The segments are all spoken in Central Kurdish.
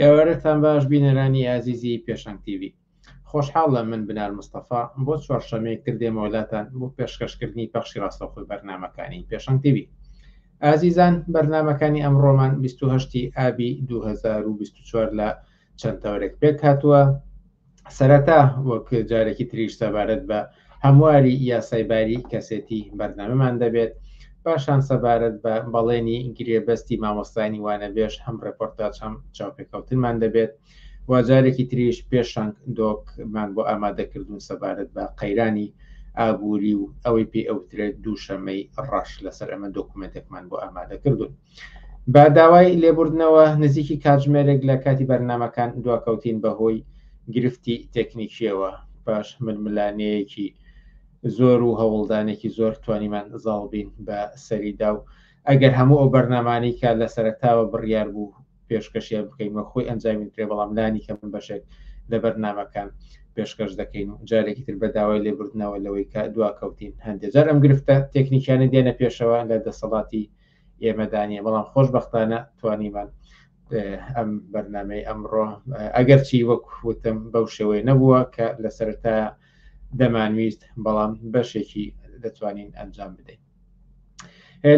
ئێوارەتان باش بینەرانی ئازیزی پێشەنگ تیوی خۆشحاڵ لە من بنار مستەفا بۆ چوارشەمەی کردێمەوەلاتان بۆ پێشکەشکردنی پەخشی ڕاستەخۆی بەرنمەکانی پێشەنگ تیوی ئازیزان بەرنمەکانی ئەم ڕۆمان 28 ئابی 2024 لە چەند تەورێک پێک هاتووە سەرەتا وەک جارێکی تریش سەبارەت بە هەمواری یاسای باری کەسێتی بەردەمەمان دەبێت پاشان سەبارەت بە بەڵێنی گرێبەستی مامۆستانی وانەبێژ هەم ڕێپۆرتاج هەم چاوپێکەوتنمان دەبێت و جارێکی تریش پێشنگ دۆکمان بۆ ئامادەکردون سەبارەت بە قەیرانی ئابووری و ئەوەی پێ ئەوترێت دووشەمەی ڕەش لەسەر ئەمە دۆکومنتێکمان بۆ ئامادەکردون. بە داوای لێبوردنەوە نزیکی کاتژمێرێک لە کاتی بەرنامەکان دواکەوتین بەهۆی گرفتی تەکنیکیەوە پاش ململانێیەکی زۆر و هەوڵدانێکی زۆر توانیمان زاڵ بین بە سەریدا و ئەگەر هەموو ئەو بەرنامانەی کە لە سەرەتاوە بڕیار بوو پێشکەشیان بکەین وە خۆی ئەنجامی درێ بەڵام لانی کەم بەشێک لە بەرنمەکان پێشکەش دەکەین و جارێکی تر بە داوای لێبوردنەوە لەوەی کە دواکەوتین هەندێک جار ئەم گرفتە تەکنیکیانە دێنە پێشەوە لە دەسەڵاتی ئێمەدا نیە بەڵام خۆشببختانە توانیمان ئەم بەرنمەی ئەمڕۆ ئەگەرچی وەک وتم بەو شێوەی نەبووە کە لە سەرتا دەمانویست بەڵام بەشێکی دەتوانین ئەنجام بدەین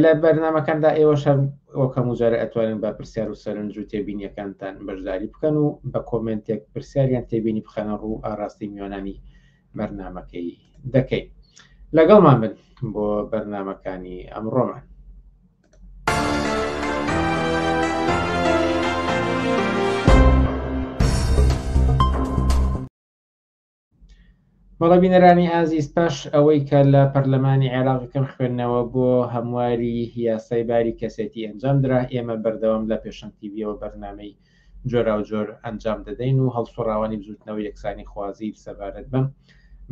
لە بەرنمەکاندا ئێوە شەر وەکەم وجارە ئەتوانن بە پرسیار و سەرنج و تێبینیەکانتان بەشداری بکەن و بە کۆمنتێک پرسیاریان تێبینی بخەنە ڕوو ئاراستەی میوانانی بەرنمەکەی دەکەین لەگەڵمان بن بۆ بەرنمەکانی ئەمڕۆمان بەڵە بینەرانی ئازیز پاش ئەوەی کە لە پەرلەمانی عێراقەکەم خوێندنەوە بۆ هەمواری یاسای باری کەسێتی ئەنجام درا ئێمە بەردەوام لە پێشەنتیبیەوە بەرنمەی جۆراوجۆر ئەنجام دەدەین و هەڵسوڕاوانی بزوتنەوە یەکسانی خوازی سەبارەت بەم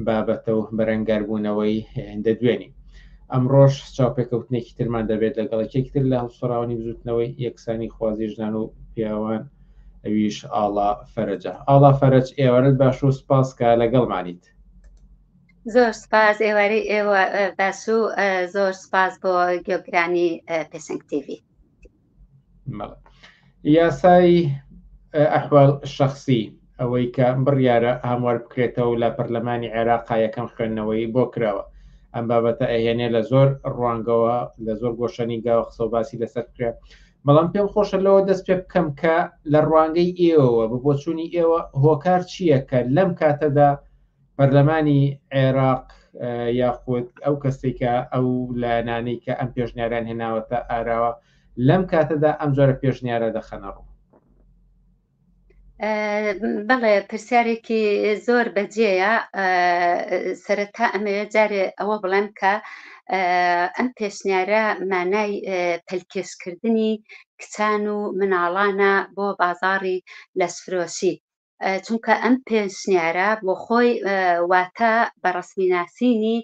بابەتە و بەرەنگاربوونەوەی دەدوێنی ئەمڕۆژ چاوپێکەوتنێکی ترمان دەبێت لەگەڵ یەکتر لە هەڵسوڕاوانی بزوتنەوەی یەکسانی خوازی ژنان و پیاوان ئەویش ئاڵا فەرجە ئاڵا فەرج ئێوارت باش و سپاس کە لەگەڵمانیت زۆر سپاس ئێوارەی ئێوە باش و زۆر سپاس بۆ گۆگرانی پێسنگ تیوی یاسای ئەحوال شخصی ئەوەی کە بڕیارە هەموار بکرێتەوە لە پەرلەمانی عێراقا یەکەم خوێندنەوەی بۆ کراوە ئەم بابەتە ئەهێنێ لە زۆر ڕوانگەوە لە زۆر گۆشەنی گاوە قسە و باسی لەسەر کرێت بەڵام پێم خۆشە لەوە دەست پێ بکەم کە لە ڕوانگەی ئێوەوە بە بۆچوونی ئێوە هۆکار چییە کە لەم کاتەدا پەرلەمانی عێراق یاخود ئەو کەسێک کە ئەو لایەنانەی کە ئەم پێشنیاران هێناوەتە ئاراوە لەم کاتەدا ئەم جۆرە پێشنیارە دەخەنە ڕوو بەڵێ پرسیارێکی زۆر بەجێە سەرەتا ئەمەوێ جارێ ئەوە بڵێم کە ئەم پێشنیارە مانای پەلکێشکردنی کچان و مناڵانە بۆ بازاری لەسفرۆشی چونکە ئەم پێشنیارە بۆ خۆی واتە بە ڕسمی ناسینی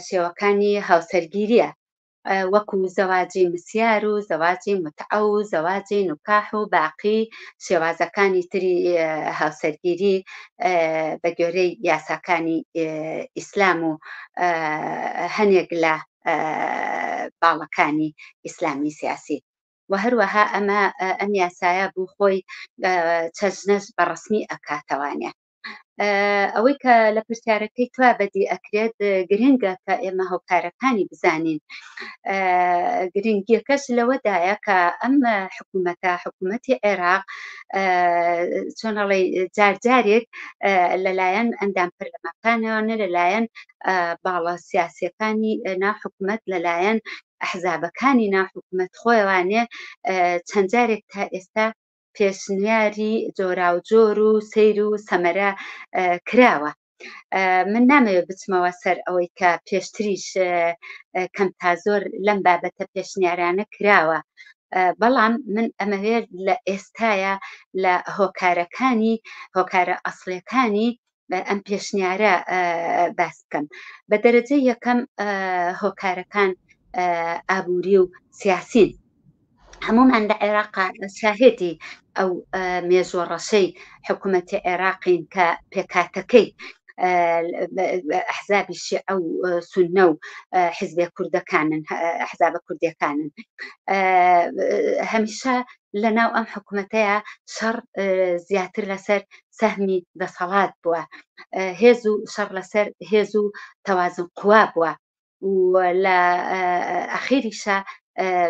شێوەکانی هاوسەرگیریە وەکو زەواجی مسیار و زەواجی متعە و زەواجی نکاح و باقی شێوازەکانی تری هاوسەرگیری بە گوێرەی یاساکانی ئیسلام و هەنێک لە باڵەکانی ئیسلامی سیاسی و هەروەها ئەمە ئەم یاسایە بوو خۆی چەژنەش بە ڕسمی ئەکاتەوانێ ئەوەی کە لە پرسیارەکەی توا بەدی ئەکرێت گرنگە کە ئێمە هۆکارەکانی بزانین گرنگیەکەش لەوەدایە کە ئەم حکوومەتە حکوومەتی عێراق چۆنەڵی جارجارێک لەلایەن ئەندام پەرلەمەکانەوە نە لەلایەن باڵە سیاسەکانی ناو حکوومەت لەلایەن ئەحزابەکانی ناو حکومەت خۆیانێ چەند جارێک تا ئێستا پێشنیاری جۆراوجۆر و سیر و سەمەرە کراوە من نامەوێت بچمەوە سەر ئەوەی کە پێشتریش کەم تا زۆر لەم بابەتە پێشنیارانە کراوە بەڵام من ئەمەوێت لە ئێستاە لە هۆکارەکانی هۆکارە ئەسلەکانی ئەم پێشنیارە باس بکەم بە دەرەجە یەکەم هۆکارەکان ئابووری و سیاسین هەمومان لە عێراق شاهێتی ئەو مێژوە ڕەشەی حکوومەتی عێراقین کە پێکاتەکەی حزابی شیعە و سنە و حزبێ کوردەکانن حزابە کوردەکانن هەمیشە لە ناو ئەم حکوومەتەیە شەڕ زیاتر لەسەر سەهمی دەسەڵات بووە، هێز و شەڕ لەسەر هێز و تەوازن قوا بووە و لە ئەخیریشا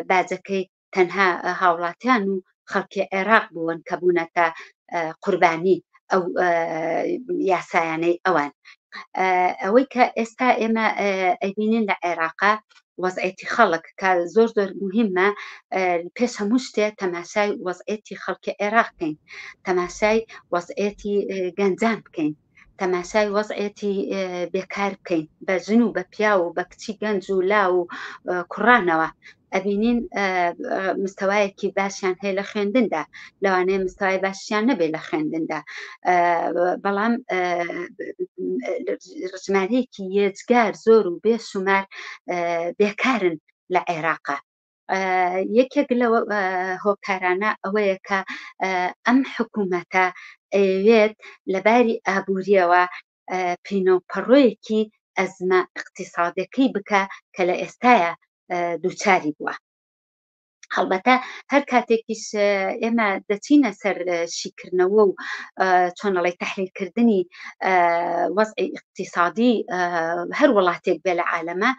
باجەکەی تەنها هاوڵاتیان و خەڵکی عێراق بوون کە بوونەتە قوربانی ئەو یاسایانەی ئەوان ئەوەی کە ئێستا ئێمە ئەبینین لە عێراقا وەزعێتی خەڵک کە زۆر زۆر مهمە پێش هەموو شتێ تەماشای وەزعێتی خەڵکی عێراق بکەین تەماشای وەزعێتی گەنجان بکەین تەماشای وەزعێتی بێکار بکەین بە ژن و بە پیا و بە کچی گەنج و لا و کوڕانەوە ئەبینین مستەوایەکی باشیان هەیە لە خوێندندا لەوانەیە مستەوای باشیان نەبێ لە خوێندندا بەڵام ژمارەیەکی یێجگار زۆر و بێ شومار بێکارن لە عێراقا یەکێک لە هۆکارانە ئەوەیە کە ئەم حکوومەتە ئەوێت لەباری ئابووریەوە پینۆپەڕۆیەکی ئەزمە اقتصادەکەی بکە کە لە ئێستاە دووچاری بووە هەڵبەتە هەر کاتێکیش ئێمە دەچینە سەر شیکردنەوە و چۆنەڵی تحلیلکردنی وەزعی اقتصادی هەر وڵاتێک بێ لە عالەمە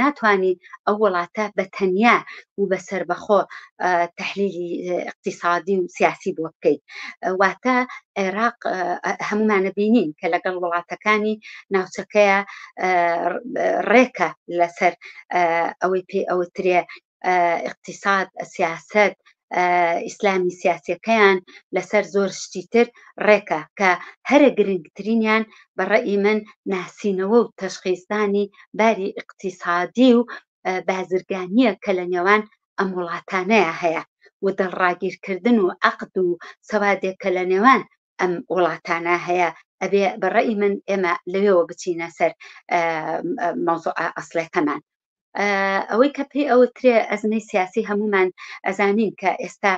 ناتوانین ئەو وڵاتە بە تەنیا و بە سربەخۆ تحلیلی اقتصادی و سیاسی بۆ بکەیت واتە عێراق هەمومانە بینین کە لەگەڵ وڵاتەکانی ناوچەکەیە ڕێکە لەسەر ئەوەی پێ ئەوترێ اقتصاد سیاست ئیسلامی سیاسەکەیان لەسەر زۆر شتی تر ڕێکە کە هەرە گرنگترینیان بەڕێی من ناسینەوە و تەشخیزدانی باری اقتصادی و بازرگانیە کە لە نێوان ئەم وڵاتانەیە هەیە و دڵڕاگیرکردن و عقد و سەوادێک کە لە نێوان ئەم وڵاتانە هەیە ئەبێ بەڕێی من ئێمە لەوێەوە بچینە سەر مەوزوع ئەسلەکەمان ئەوەی کە پێی ئەوترێ ئەزمەی سیاسی هەمومان ئەزانین کە ئێستا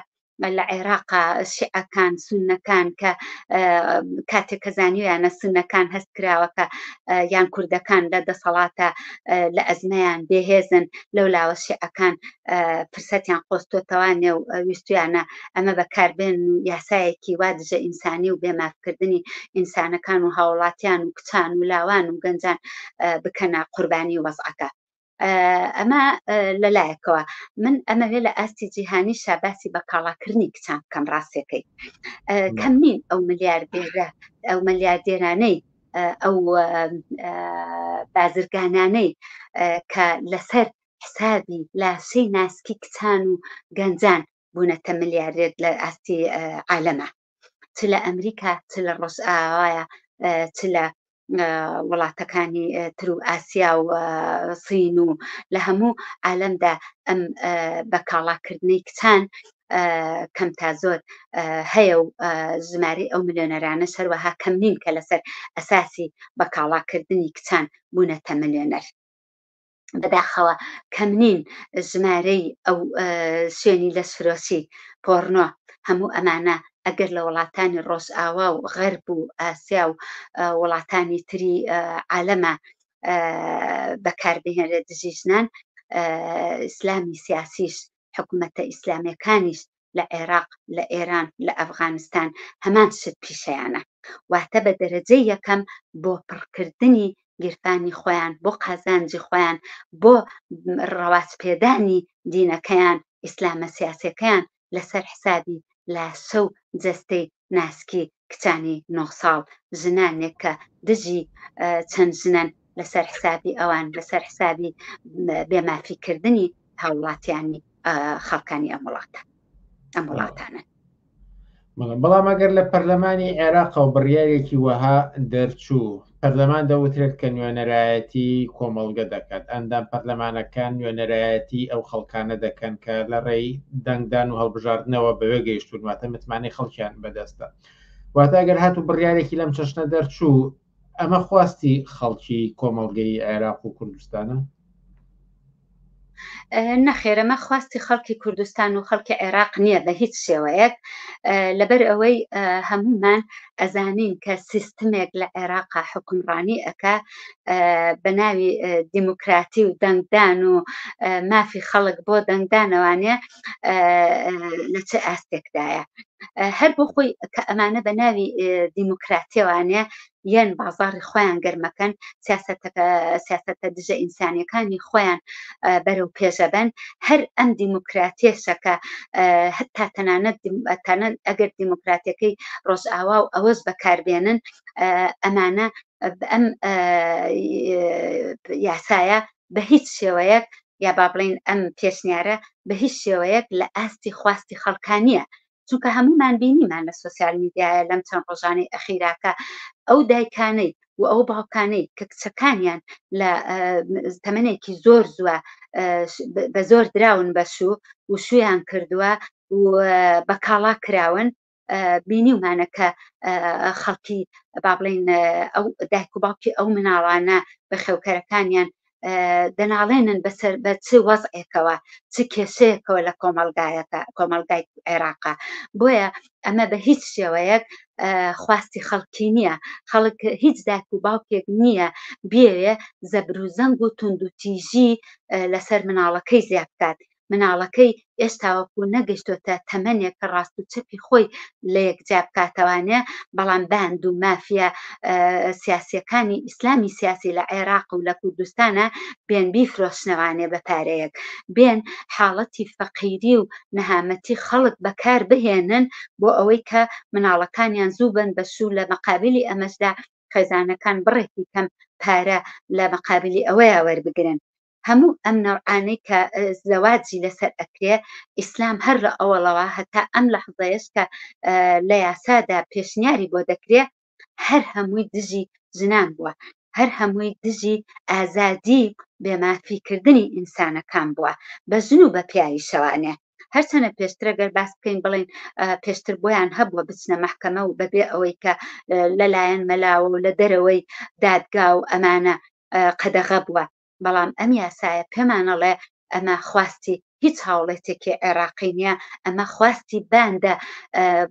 لە عێراقا شعەکان سونەکان کە کاتێک کە زانیویانە سونەکان هەست کراوەکە یان کوردەکان لە دەسەڵاتە لە ئەزمەیان بێهێزن لەو لاوە شعەکان فرسەتیان قۆستۆتەوانێ و ویستویانە ئەمە بەکاربێن و یاسایەکی وا دژە ئینسانی و بێمافکردنی ئینسانەکان و هاوڵاتیان و کچان و لاوان و گەنجان بکەنە قوربانی وەزعەکە ئەمە لەلایەکەوە من ئەمەوێ لە ئاستی جیهانی شاباسی بە کاڵاکردنی کچان بکەم ڕاستەکەی کەم نین ئەو ملیاردێرە ئەو ملیاردێرانەی ئەو بازرگانانەی کە لەسەر حسابی لاشەی ناسکی کچان و گەنجان بوونەتە ملیارێت لە ئاستی عالەمە چ لە ئەمریکا چ لە ڕۆژئاوایە چ لە وڵاتەکانی تر و ئاسیا و سین و لە هەموو عالەمدا ئەم بە کاڵاکردنەی کچان کەم تا زۆر هەیە و ژماری ئەو ملیۆنەرانە سەروەها کەم نین کە لەسەر ئەساسی بە کاڵاکردنی کچان بوونەتە ملیۆنەر بەداخەوە کەم نین ژمارەی ئەو سوێنی لە سفرۆسی پۆڕنۆ هەموو ئەمانە ئەگەر لە وڵاتانی ڕۆژئاوا و غەرب و ئاسیا و وڵاتانی تری عالەمە بەکاربهێنرێت دژی ژنان ئیسلامی سیاسیش حکوومەتە ئیسلامەکانیش لە عێراق، لە ئێران، لە ئەفغانستان هەمان شت پیشەیانە. واتە بە دەرەجەی یەکەم بۆ پڕکردنی گیرفانی خۆیان، بۆ قازانجی خۆیان، بۆ ڕەواجپێدانی دینەکەیان، ئیسلامە سیاسیەکەیان لەسەر حسابی لاشە و جەستەی ناسکی کچانی نۆ ساڵ ژنانێک کە دژی چەند ژنەن لەسەر حسابی ئەوان لەسەر حسابی بێمافیکردنی هاوڵاتیانی خەڵکانی ئەم وڵاتە ئەم وڵاتانە بەڵام ئەگەر لە پەرلەمانی عێراق و بڕیارێکی وەها دەرچوو پەرلەمان دەوترێت کە نوێنەرایەتی کۆمەڵگە دەکات ئەندام پەرلەمانەکان نوێنەرایەتی ئەو خەڵکانە دەکەن کە لە ڕێی دەنگدان و هەڵبژاردنەوە بەوێ گەیشتون واتە متمانەی خەڵکیان بەدەستە واتە ئەگەر هات و بڕیارێکی لەم چەشنە دەرچوو ئەمە خواستی خەڵکی کۆمەڵگەی عێراق و کوردستانە نەخێر ئەمە خواستی خەڵکی کوردستان و خەڵکی عێراق نییە بە هیچ شێوەیەک لەبەر ئەوەی هەمومان ئەزانین کە سیستمێک لە عێراقا حکومڕانی ئەکا بە ناوی دیموکراتی و دەنگدان و مافی خەڵک بۆ دەنگدانەوانێ لە چه ئاستێکدایە هەر بۆ خۆی کە ئەمانە بە ناوی دیموکراتیەوانێ یان بازاڕی خۆیان گەرمەکەن سیاسەتە دژە ئینسانیەکانی خۆیان بەرەو پێشەبەن هەر ئەم دیموکراتێشەکە هەتا تەنانەت ئەگەر دیموکراتەکەی ڕۆژئاوا و ئەوەش بەکاربێنن ئەمانە ئەم یاسایە بە هیچ شێوەیەک یا با بڵین ئەم پێشنیارە بە هیچ شێوەیەک لە ئاستی خواستی خەڵکانیە چونکە هەموومان بینیمان لە سۆسیال میدیایە لەم چەند ڕۆژانەی ئەخیراکە ئەو دایکانەی و ئەو باوکانەی کە کچەکانیان لە تەمەێکی زۆر زووە بە زۆر دراون بەشوو و شویان کردووە و بە کاڵا کراون بینیمانە کە خەڵکی با بڵین ئەو دایک و باوکی ئەو مناڵانە بە خێوکەرەکانیان دەناڵێنن بەسەر بە چ وەزعێکەوە چ کێشەیەکەوە لە کۆمەلگایەکە کۆمەلگای عێراقا بۆیە ئەمە بە هیچ شێوەیەک خواستی خەڵکی نییە خەڵک هیچ داک و باوکێک نییە بێوێ زەبروزەنگ و تونندوتیژی لەسەر مناڵەکەی زیاد بکات مناڵەکەی ئێستاوەکو نەگەشتۆتە تەمەنێک کە ڕاست و چەپی خۆی لە یەک جیا بکاتەوانێ بەڵام باند و مافیا سیاسیەکانی ئیسلامی سیاسی لە عێراق و لە کوردستانە بێن بیفرۆشنەوانێ بە پارەیەک بێن حاڵەتی فەقیری و نەهامەتی خەڵک بەکار بهێنن بۆ ئەوەی کە مناڵەکانیان زوو بن بە شوو لە مەقابلی ئەمەشدا خێزانەکان بڕێکی کەم پارە لە مەقابلی ئەوەیە وەربگرن هەموو ئەم نەوعانەی کە زەواجی لەسەر ئەکرێ ئیسلام هەر لە ئەوەڵەوە هەتا ئەم لە حزەیەش کە لە یاسادا پێشنیاری بۆ دەکرێ هەر هەمووی دژی ژنان بووە هەر هەمووی دژی ئازادی بێمافیکردنی ئینسانەکان بووە بە ژن و بە پیاوی شەوانێ هەرچەنە پێشترەگەر باس بکەین بڵین پێشتر بۆیان هەبووە بچنە محکەمە و بەبێ ئەوەی کە لەلایەن مەلاوە و لە دەرەوەی دادگا و ئەمانە قەدەغە بووە، بەڵام ئەم یاسایە پێمان ئەڵێ ئەمە خواستی هیچ هاوڵێتێکی عێراقی نییە، ئەمە خواستی باندە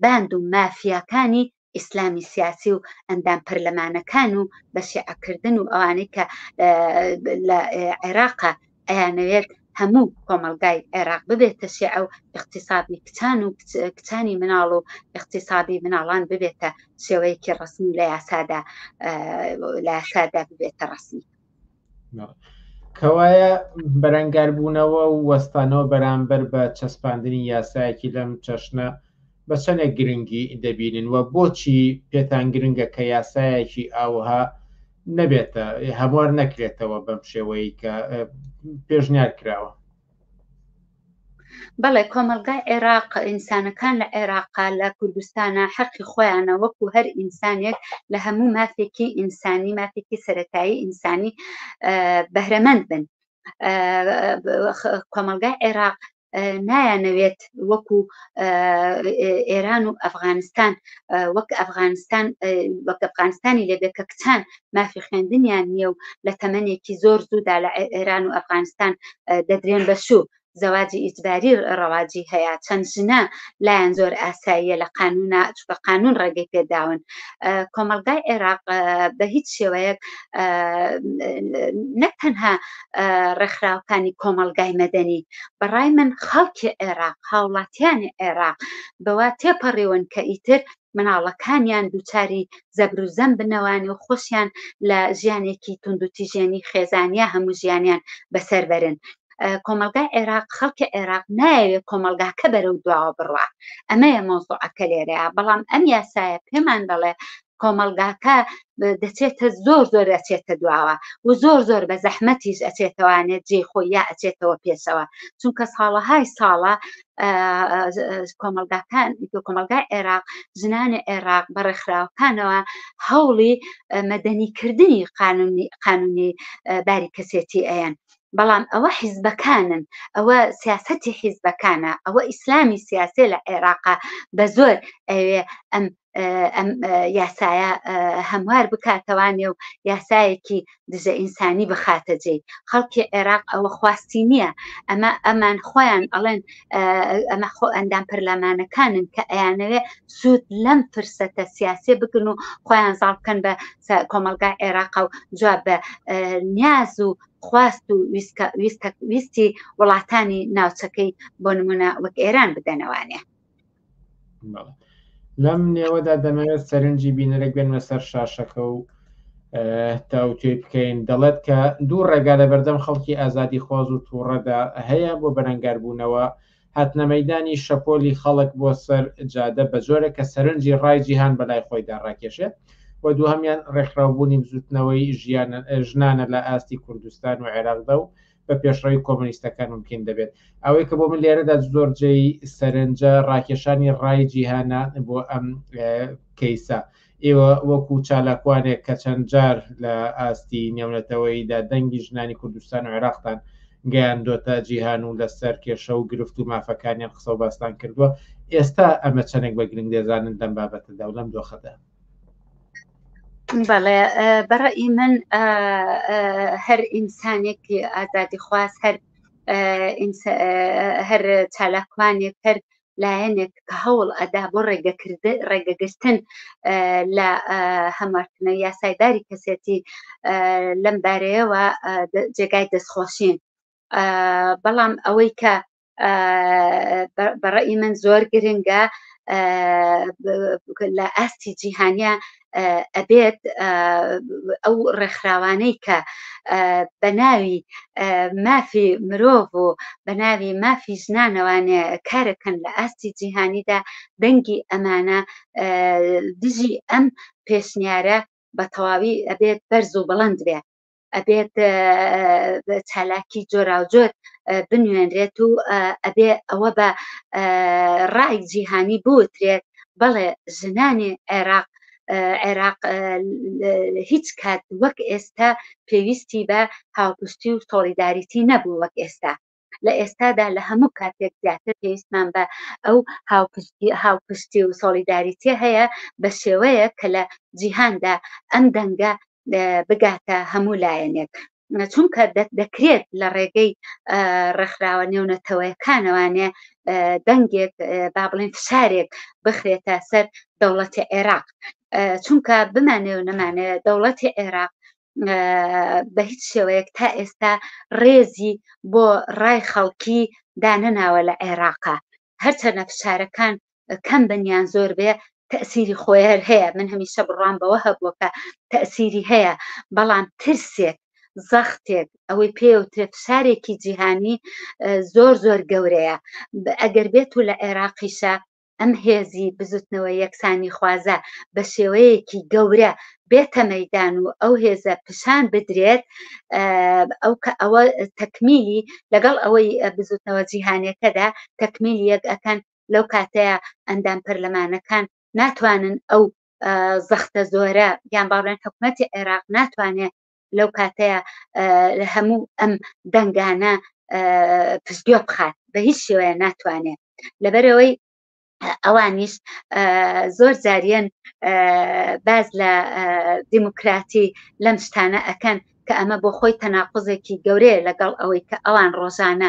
باند و مافیاکانی ئیسلامی سیاسی و ئەندام پەرلەمانەکان و بە شیعەکردن و ئەوانەی کە لە عێراقە ئەیانەوێت هەموو کۆمەڵگای عێراق ببێتە شیعە و ئیقتیسادی کچان و کچانی مناڵ و ئیقتیسادی مناڵان ببێتە شێوەیەکی ڕسمی لە یاسادا لە یاسادا ببێتە ڕسمی کەوایە بەرەنگاربوونەوە و وەستانەوە بەرامبەر بە چەسپاندنی یاسایەکی لەم چەشنە بە چەنێک گرنگی دەبینن و بۆچی پێتان گرنگە کە یاسایەکی ئاوها نەبێتە هەموار نەکرێتەوە بەم شێوەی کە پێشنیار کراوە؟ بەڵێ کۆمەلگای عێراق ئینسانەکان لە عێراقا لە کوردستانە حەقی خۆیانە وەکو هەر ئینسانێک لە هەموو مافێکی ئینسانی مافێکی سەتایی ئینسانی بەهرەمەند بن کۆمەلگای عێراق نایانەوێت وەکو ئێران و ئەفغانستان وەک ئەفغانستان وەک ئەفغانستانی لەبێ کە کچان مافی خوێندنیان نییە و لە تەمەنێکی زۆر زوودا لە ئێران و ئەفغانستان دەدرێن بە شوو زەواجی ئیجباری ڕەواجی هەیە چەند ژنە لایەن زۆر ئاساییە لە قانونا چکە قانون ڕێگەی پێداون کۆمەلگای عێراق بە هیچ شێوەیەک نەک تەنها ڕێکخراوەکانی کۆمەلگای مەدەنی بەڕای من خەڵکی عێراق هاوڵاتیانی عێراق بەوا تێپەڕیون کە ئیتر مناڵەکانیان دووچاری زەبروزەم بنەوانی و خۆشیان لە ژیانێکی توندوتیژێنی خێزانیا هەموو ژیانیان بەسەر بەرن کۆمەلگای عێراق خەڵکی عێراق نایەوێت کۆمەلگاکە بەرەو دواوە بڕە ئەمەیە مۆزۆعەکە لێرەیە بەڵام ئەم یاسایە پێمان دەڵێ کۆمەڵگاکە دەچێتە زۆر زۆر ئەچێتە دواوە و زۆر زۆر بە زەحمەتیش ئەچێتەوانێت جێ خۆی یا ئەچێتەوە پێشەوە چونکە ساڵەهای ساڵە کۆمەلگاکان کۆمەلگای عێراق ژنانی عێراق بە ڕێکخراوەکانەوە هەوڵی مەدەنیکردنی قانونی قانونی باری کەسێتی ئەیەن بەڵام ئەوە حیزبەکانن ئەوە سیاستی حیزبەکانە ئەوە ئیسلامی سیاسێ لە عێراقا بە زۆر ئەوێ ئەم ئەم یاسایە هەموار بکاتەوانێ و یاسایەکی دژە ئینسانی بخاتە جێی خەڵکی عێراق ئەوە خواستی نییە ئەمە ئەمان خۆیان ئەڵێن ئەمە خۆ ئەندام پەرلەمانەکانن کە ئەیانەوێ سوود لەم فرسەتە سیاسێ بگن و خۆیان زاڵ بکەن بە کۆمەلگا عێراق و جواب بە نیاز و خواست و ویستی وڵاتانی ناوچەکەی بۆ نمونە وەک ئێران بدەنەوانێ لەم نێوەدا دەمەوێت سەرنجی بینەرێک بێنمە سەر شاشەکە و تاوتێ بکەین دەڵێت کە دوو ڕێگا لە بەردەم خەڵکی ئازادی خواز و تووڕەدا هەیە بۆ بەرەنگاربوونەوە هاتنە مەدانی شەپۆلی خەڵک بۆ سەر جادە بە جۆرە کە سەرنجی ڕای جیهان بەلای خۆیدا ڕاکێشێت و دووهمیان ڕێکخراوبوونی بزوتنەوەی ژیان ژنانە لە ئاستی کوردستان و عێراقدا و بە پێشڕەوی کۆمۆنیستەکان مومکین دەبێت. ئەوەی کە بۆ من لێرەدا زۆر جێی سەرنجە ڕاکێشانی ڕای جیهانە بۆ ئەم کەیسە. ئێوە وەکو چالاکوانێک کە چەند جار لە ئاستی نێونەتەوەییدا دەنگی ژنانی کوردستان و عێراقتان گەیاندۆتە جیهان و لەسەر کێشە و گرفت و مافەکانیان قسە و باستان کردووە ئێستا ئەمە چەندێک بە گرنگ دەزانن لەم بابەتەدا و لەم دۆخەدا بەڵێ بەڕی من هەر ئینسانێکی ئازادی خواست هەر هەر چالاکوانێک هەر لایەنێک کە هەوڵ ئەدا بۆ ڕێگەکرد ڕێگەگرتن لە هەمارتنە یاسایداری کەسێتی لەم بارەیەوە جێگای دەستخۆشین بەڵام ئەوەی کە بەڕێی من زۆر گرنگە لە ئاستی جیهانیا ئەبێت ئەو ڕێکخراوانەی کە بە ناوی مافی مرۆڤ و بە ناوی مافی ژنانەوانێ کارەکەن لە ئاستی جیهانیدا دەنگی ئەمانە دژی ئەم پێشنیارە بە تەواوی ئەبێت بەرز و بڵند بێت ئەبێت چالاکی جۆراوجۆر بنوێنرێت و ئەبێ ئەوە بە ڕای جیهانی بوترێت بەڵێ ژنانی عێراق عێراق هیچ کات وەک ئێستا پێویستی بە هاوپشتی و سۆڵیداریتی نەبوو وەک ئێستا لە ئێستادا لە هەموو کاتێک زیاتر پێویستمان بە ئەو هاوپشتی و سۆڵیداریتێ هەیە بە شێوەیە کە لە جیهاندا ئەم دەنگە بگاتە هەموو لایەنێک چونکە دەکرێت لە ڕێگەی ڕێکخراوە نێونەتەوەیەکانەوانێ دەنگێک با بڵێن فشارێک بخرێتە سەر دەوڵەتی عێراق چونکە بمانێ و نەمانێ دەوڵەتی عێراق بە هیچ شێوەیەک تا ئێستا ڕێزی بۆ ڕای خەڵکی دانەناوە لە عێراقا هەرچەنە فشارەکان کەم بنیان زۆر بێ تەسیری خۆیەر هەیە من هەمیشە بڕام بەوە هەبووە کە تەسیری هەیە بەڵام ترسێک زەختێک ئەوەی پێوتێ فشارێکی جیهانی زۆر زۆر گەورەیە ئەگەر بێت و لە عێراقیشە ئەم هێزی بزوتنەوە یەکسانیخوازە بە شێوەیەکی گەورە بێتە مەیدان و ئەو هێزە پیشان بدرێت ئەو کە ئەوە تەکمیلی لەگەڵ ئەوەی بزوتنەوە جیهانەکەدا تەکمیل یەک ئەکەن لەو کاتەیە ئەندام پەرلەمانەکان ناتوانن ئەو زەختە زۆرە یان باڵێن حکوومەتتی عێراق ناتوانێت لەو کاتەیە هەموو ئەم دەنگانە پزگوێ بخات بە هیچ شێوەیە ناتوانێت لەبەرەوەی ئەوانیش زۆر زاریان باز لە دیموکراتی لەم شتانە ئەکەن کە ئەمە بۆ خۆی تەناقزێکی گەورەیە لەگەڵ ئەوەی کە ئەوان ڕۆژانە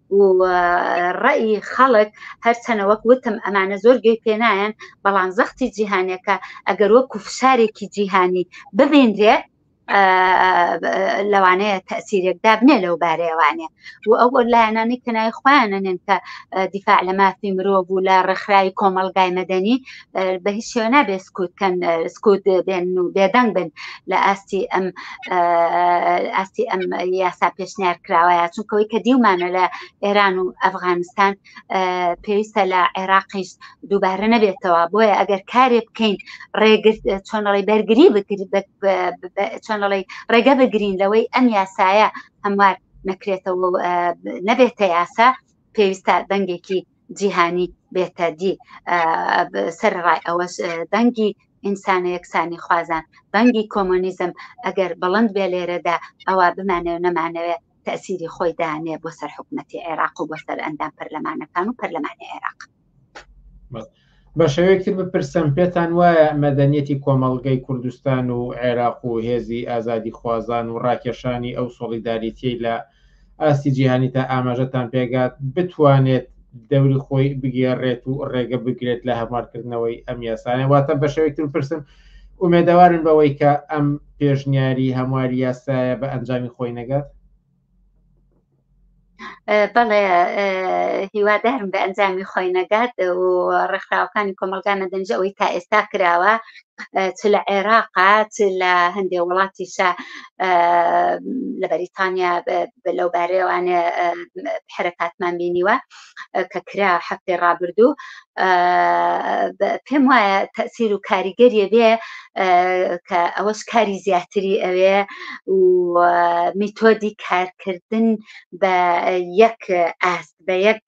و ڕەئی خەڵک هەرچەنە وەک وتم ئەمانە زۆر گوێی پێنایەن بەڵام زەختی جیهانەکە ئەگەر وەکو فشارێکی جیهانی ببینرێ لەوانەیە تەسیرێک دابنێ لەو بارەیەوانێ و ئەو لایەنانی کەنای خۆیانە نێن کە دیفاع لە مافی مرۆڤ و لە ڕێکخراوی کۆمەلگای مەدەنی بە هیچ شێوە نابێت سکوت کەن سکوت بێن و بێدەنگ بن لە ئاستی ئەم ئاستی ئەم یاسا پێشنیار کراوەیە چونکەوەی کە دیومانە لە ئێران و ئەفغانستان پێویستە لە عێراقیش دووبارە نەبێتەوە بۆیە ئەگەر کارێ بکەین ڕێگرت چۆنەڵی بەرگری چۆنەڵی ڕێگە بگرین لەوەی ئەم یاسایە هەموار نەکرێتەوە نەبێتە یاسا پێویستە دەنگێکی جیهانی بێتە دی سەر ڕای ئەوەش دەنگی ئینسانە یەکسانی خوازان بەنگی کۆمۆنیزم ئەگەر بەڵند بێ لێرەدا ئەوە بمانێ و نەمانەوێ تەسیری خۆی دانێ بۆ سەر حکوومەتتی عێراق و بۆ سەر ئەندام پەرلەمانەکان و پەرلەمانی عێراق. بەشێوەیەک تر بپرسم پێتان وایە مەدەنیەتی کۆمەڵگەی کوردستان و عێراق و هێزی ئازادی خوازان و ڕاکێشانی ئەو سۆڵیداریتیەی لە ئاستی جیهانی تا ئاماژەتان پێگات بتوانێت دەوری خۆی بگێڕێت و ڕێگە بگرێت لە هەموارکردنەوەی ئەم یاسانە واتە بەشێوەیەک تر پرسم ئومێدەوارن بەوەی کە ئەم پێشنیاری هەمواری یاسایە بە ئەنجامی خۆی نەگات بەڵێ هیوادارم بە ئەنجامی خۆی نەگات و ڕێکخراوەکانی کۆمەلگا نەدەنج ئەوەی تا ئێستا کراوە چ لە عێراقا چ لە هەندێ وڵاتیشە لە بەریتانیا لەو بارەیەوانێ حرەکاتمان بینیوە کە کرا هەفتەی ڕابردوو پێم وایە تەسیر و کاریگەریە بێ کە ئەوەش کاری زیاتری ئەوێ و میتۆدی کارکردن بە یەک ئاست بە یەک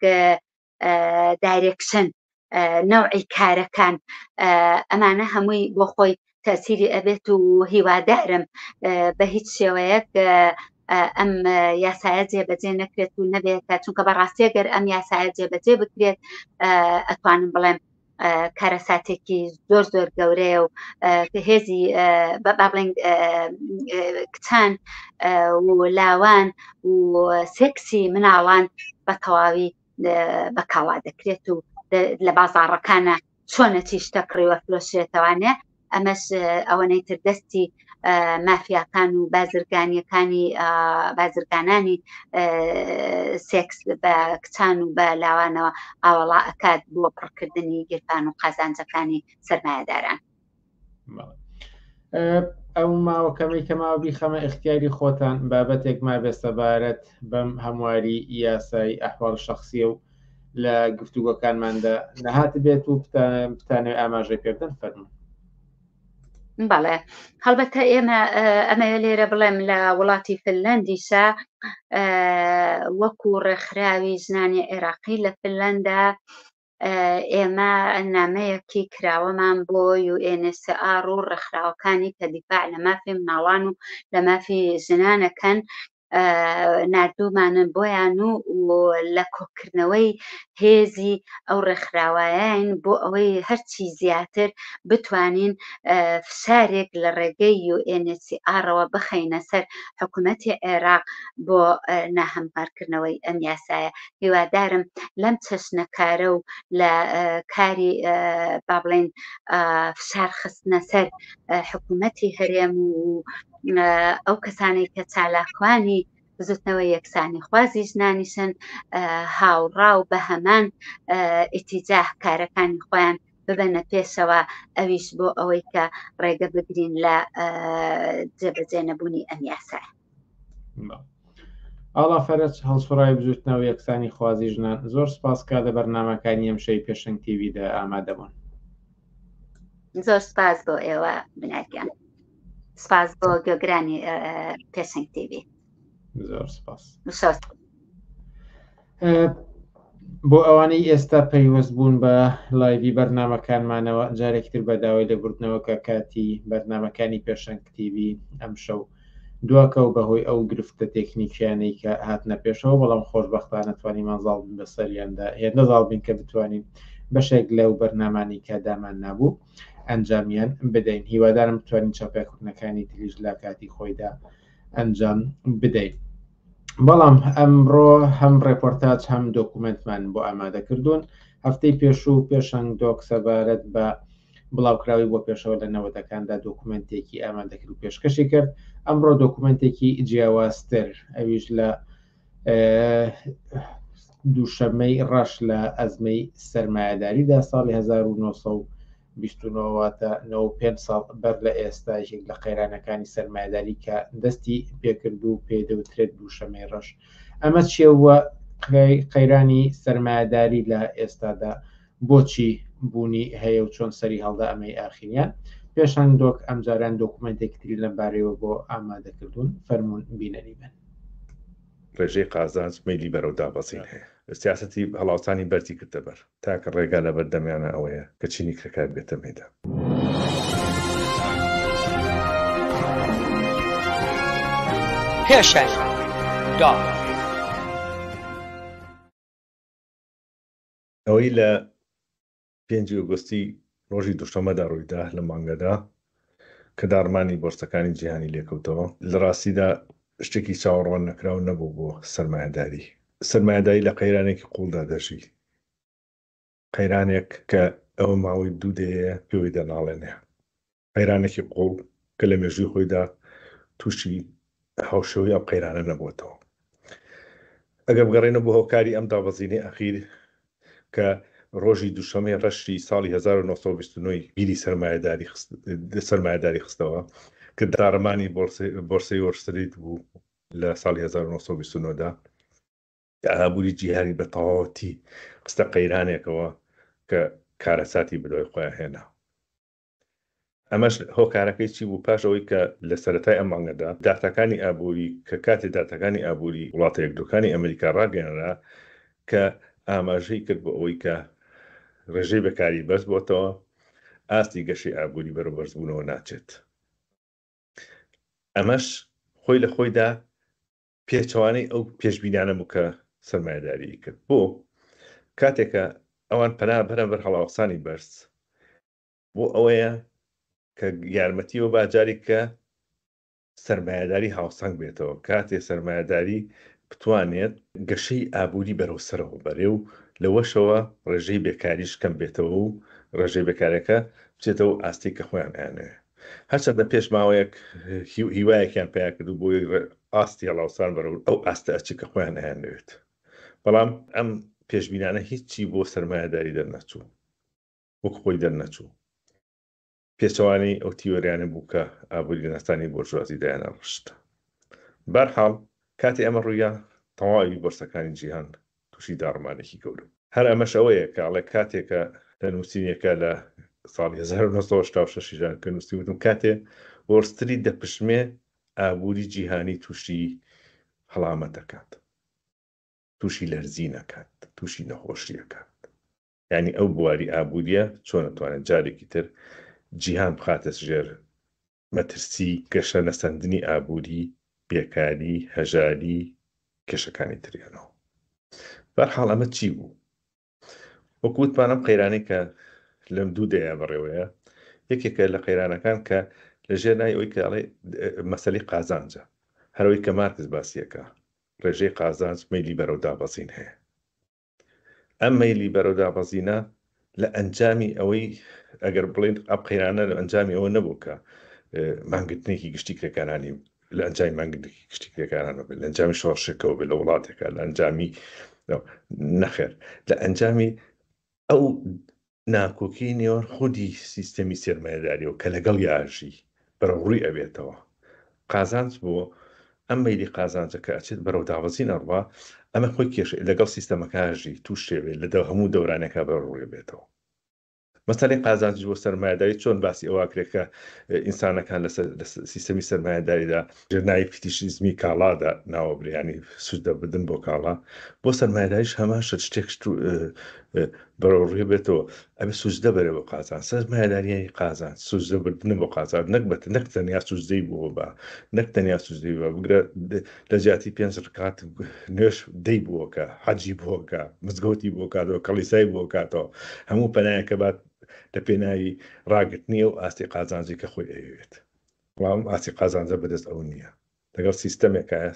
دایرێکشن نەوعی کارەکان ئەمانە هەمووی بۆ خۆی تەسیری ئەبێت و هیوادارم بە هیچ شێوەیەک ئەم یاسایە جێبەجێ نەکرێت و نەبێت تا چونکە بەڕاستی گەر ئەم یاسایە جێبەجێ بکرێت ئەتوانم بڵێم کارەساتێکی زۆر زۆر گەورەیە و هێزی بابڵێن کچان و لاوان و سێکسی مناڵان بە تەواوی بە کاڵا دەکرێت و لە بازاڕەکانە چۆنە چیشتە کڕیوە فرۆشێتەوانێ ئەمەش ئەوەنەی تر دەستی مافیاکان و بازرگانیەکانی بازرگانانی سێکس بە کچان و بە لاوانەوە ئاوەڵا ئەکات بۆ پڕکردنی گیرفان و قازانجەکانی سەرمایهداران ئەو ماوە کەمەی کەماوە بیخەمە اختیاری خۆتان بابەتێک ما بێسەبارەت بەم هەمواری یاسایی ئەحواڵ شخصیە و لە گفتوگۆکانماندا نەهات بێت و بتانێ ئاماژەی پێبدەن فەرمو بەڵێ هەڵبەتە ئێمە ئەمە لێرە بڵێم لە وڵاتی فلەندیسا وەکو ڕێکخراوی زنانی عێراقی لە فلەندا ئێمە نامەیەکی کراوەمان بۆ UNHCR و ڕێکخراوەکانی کە دیفاع لە مافی مناڵان و لە مافی ژنانەکەن نردومانن بۆیان و لە کۆکردنەوەی هێزی ئەو ڕێکخراوایەن بۆ ئەوەی هەرچی زیاتر بتوانین فشارێک لە ڕێگەی UNHCR-ەوە بخەینە سەر حکوومەتی عێراق بۆ ناهەموارکردنەوەی ئەم یاسایە هیوادارم لەم چەشنە کارە و لە کاری با بڵێین فشار خستنە سەر حکوومەتی هەرێم و ئەو کەسانەی کە چالاکوانی بزوتنەوە یەکسانی خوازی ژنانیشن هاوڕا و بە هەمان ئیتیجاه کارەکانی خۆیان ببەنە پێشەوە ئەویش بۆ ئەوەی کە ڕێگە بگرین لە جێبەجێ نەبوونی ئەم یاسایە ئاڵا فەرەج هەڵسوڕاوی بزوتنەوە یەکسانی خوازی ژنان زۆر سپاس کا لە بەرنمەکانی ئەم شەی پێشنگ تیویدا ئامادەبوون زۆر سپاس بۆ ئێوە بناگیان سپاس بۆ گۆگرانی پێشنگ تیوی زۆر سپاس. بۆ ئەوانەی ئێستا پەیوەست بوون بە لایوی بەرنمەکانمانەوە جارێکتر بە داوای لێبوردنەوە کە کاتی بەرنمەکانی پێشەنگ کتیوی ئەم شەو دواکە و بەهۆی ئەو گرفتە تێکنیکیانەی کە هاتنە پێشەوە بەڵام خۆشببختانە توانیمان زاڵ بن بەسەریاندا هێندە زاڵ بین کە بتوانین بەشێک لەو بەرنمانی کە دامان نابوو ئەنجامیان بدەین هیوادارم بتوانین چاپێکردنەکانی تریش لە کاتی خۆیدا ئەنجام بدەین. بەڵام ئەمڕۆ هەم ڕێپۆرتاج هەم دۆکومنتمان بۆ ئامادە کردوون هەفتەی پێشوو پێشەنگ دۆک سەبارەت بە بڵاوکراوی بۆ پێشەوە لە نەوەدەکاندا دۆکومنتێکی ئامادەکرد و پێشکەشی کرد ئەمڕۆ دۆکومنتێکی جیاوازتر ئەویش لە دووشەمەی ڕەش لە ئەزمەی سەرمایهداریدا ساڵی 1970 بیست و نۆ واتە نەوە و پێنج ساڵ بەر لە ئێستا یەکێک لە قەیرانەکانی سەرمایەداری کە دەستی پێکرد و پێی دەوترێت دووشەمەی ڕەش ئەمە چێوە قەیرانی سەرمایەداری لە ئێستادا بۆچی بوونی هەیە و چۆن سەری هەڵدا ئەمەی ئاخیریان پێشان دۆک ئەمجاران دۆکومنتێکتری لەم بارەوە بۆ ئامادەکردوون فەرمونون بینەری بن ڕێژەی قازانج میلی بەرەو دابەزین هەیە سیاستی هەڵاوسانی بەرزی کردە بەر تاکە ڕێگا لە بەردەمیانە ئەوەیە کە چینی کرێکار بێتە مەیدان. پێشەنگ دا. ئەوەی لە پێنجی ئۆگۆستی ڕۆژی دووشەممەدا ڕوویدا لەم مانگەدا کە داڕمانی بۆرسەکانی جیهانی لێکەوتەوە، لە ڕاستیدا شتێکی چاوەڕوان نەکراو نەبوو بۆ سەرمایەداری، سەرمایەداری لە قەیرانێکی قووڵدا دەژی، قەیرانێک کە ئەوە ماوەی دوو دەیەیە پێوەی دەناڵێنێ، قەیرانێکی قووڵ کە لە مێژووی خۆیدا تووشی هاوشێوەی ئەم قەیرانە نەبووەتەوە. ئەگەر بگەڕێینەوە بۆ هۆکاری ئەم دابەزینەی ئەخیر کە ڕۆژی دووشەمەی ڕەشی ساڵی هەزار و نۆ سەد و بیست و نۆ ی بیری سەرمایەداری خستەوە کە داڕمانی بۆرسەی وۆل ستریت بوو لە ساڵی هەزار و نۆ سەد و بیست و نۆ دا، ئابووری جیهانی بە تەواوەتی خستە قەیرانێکەوە کە کارەساتی بەدوای خۆیان هێنا. ئەمەش هۆکارەکەی چی بوو؟ پاش ئەوەی کە لە سەرەتای ئەم مانگەدا داتاکانی ئابووری کە کاتێ داتاکانی ئابووری وڵاتە یەکگرتووەکانی ئەمریکا ڕاگەیەنرا کە ئاماژەی کرد بۆ ئەوەی کە ڕێژەی بێکاری بەرز بۆتەوە ئاستی گەشەی ئابووری بەرەو بەرزبوونەوە ناچێت ئەمەش خۆی لە خۆیدا پێچەوانەی ئەو پێشبینانە بوو کە سەرمایەداری کرد بۆ کاتێکە ئەوان پەنا بەرە بەر هەڵاوسانی بەرز بۆ ئەوەیە کە یارمەتی بە باجاری کە سرمایهداری هاوسەنگ بێتەوە کاتێ سرمایهداری بتوانێت گەشەی ئابووری بەرەو سەرەوە بەرێ و لەوەشەوە ڕێژەی بێکاریش کەم بێتەوە و ڕێژەی بێکارەکە بچێتەوە ئاستی کە خۆیان ئەیانەوێ هەرچەندە پێش ماوەیەک هیوایەکیان پیا کرد و بۆی ئاستی هەڵاوسان بەرەو ئەو ئاستە ئەچی کە خۆیان ئەیانەوێت بەڵام ئەم پێشبینانە هیچی بۆ سرمایهداری دەرنەچوو وەک خۆی دەرنەچوو. پێچەوانەی ئەو تیۆریانە بوو کە ئابووریناسانی بۆرژوازی دایانڕشت. بەرحاڵ کاتێ ئەمە ڕوویا تەواوی بۆرسەکانی جیهان تووشی داڕمانێکی گەورە بوو. هەر ئەمەش ئەوەیە کە ئەڵێ کاتێ کە لە نووسینێکا لە ساڵی هەزار و نۆ سەد و هەشتا و شەش ژان کە نووسیوتم کاتێ وۆڵستریت دەپشمێ ئابووری جیهانی تووشی هەڵامەت ئەکات، تووشی لەرزین ئەکات، تووشی نەخۆشی ئەکات. یانی ئەو بواری ئابووریە چۆن ئەتوانێت جارێکی تر جیهان بخاتە ژێر مەترسی گەشە نەسەندنی ئابووری، بێکاری، هەژاری، کێشەکانی تریانەوە. بەرحاڵ ئەمە چی بوو؟ وەکو وتمان ئەم قەیرانەی کە لەم دوو دەیە بەڕێوەیە یەکێکە لە قەیرانەکان کە لە ژێر نای ئەوی کەڵێ مەسەلی قازانجە هەرەوەی کە مارکز باسیەکە ڕێژەی قازانج مەلی بەرەو دابەزین هەیە ئەم مەیلی بەرەو دابەزینە لە ئەنجامی ئەوەی ئەگەر بڵێن ئەم قەیرانە لە ئەنجامی ئەوە نەبوو کە مانگرتنێکی گشتی کرێکارانی لە ئەنجامی مانگرتنێکی گشتی کرێکارانە بێت لە ئەنجامی شۆڕشێکەوە بێت لە وڵاتێکە لە ئەنجامی نەخێر لە ئەنجامی ئەو ناکۆکی نێوان خودی سیستەمی سەرمایەداریەوە کە لەگەڵی ئاژی بەرەو ڕووی ئەبێتەوە قازانج بۆ ئەم مەیلی قازانجە کە ئەچێت بەرەو دابەزین ئەڕوا ئەمە خۆی کێشەی لەگەڵ سیستەمەکانژی تووشێوێت لە دە هەموو دەورانەکە بەرەو ڕووی بێتەوە مەسەلەی قازانج بۆ سەرمایەداری چۆن باسی ئەوە کرێت کە ئینسانەکان لە سیستەمی سەرمایەداریدا لە ناوی فیتیشیزمی کاڵادا ناوەبرێ ینی سوودە بدن بۆ کاڵا بۆ سەرمایداریش هەمان شت شتێک بەرەو ڕێ بێتەوە ئەبێ سوزدە بەرە بۆ قازان سەرمایداریانی قازان سوزدە بردنە بۆ قازان نەک بەت نەک تەنیا سوزدەی بۆ بە نەک تەنیا سوزدەی بە بگرە لە جیاتی پێنج ڕکات نوێش دەی بووەکە حەجی بۆکە مزگەوتی بۆ کاتەوە کەڵیسای بۆ کاتەوە هەموو پەنایەکە بات لە پێناوی ڕاگرتنی و ئاستی قازانجی کە خۆی ئەوێت بەڵام ئەم ئاستی قازانجە بەدەست ئەو نییە، لەگەڵ سیستەمێکایە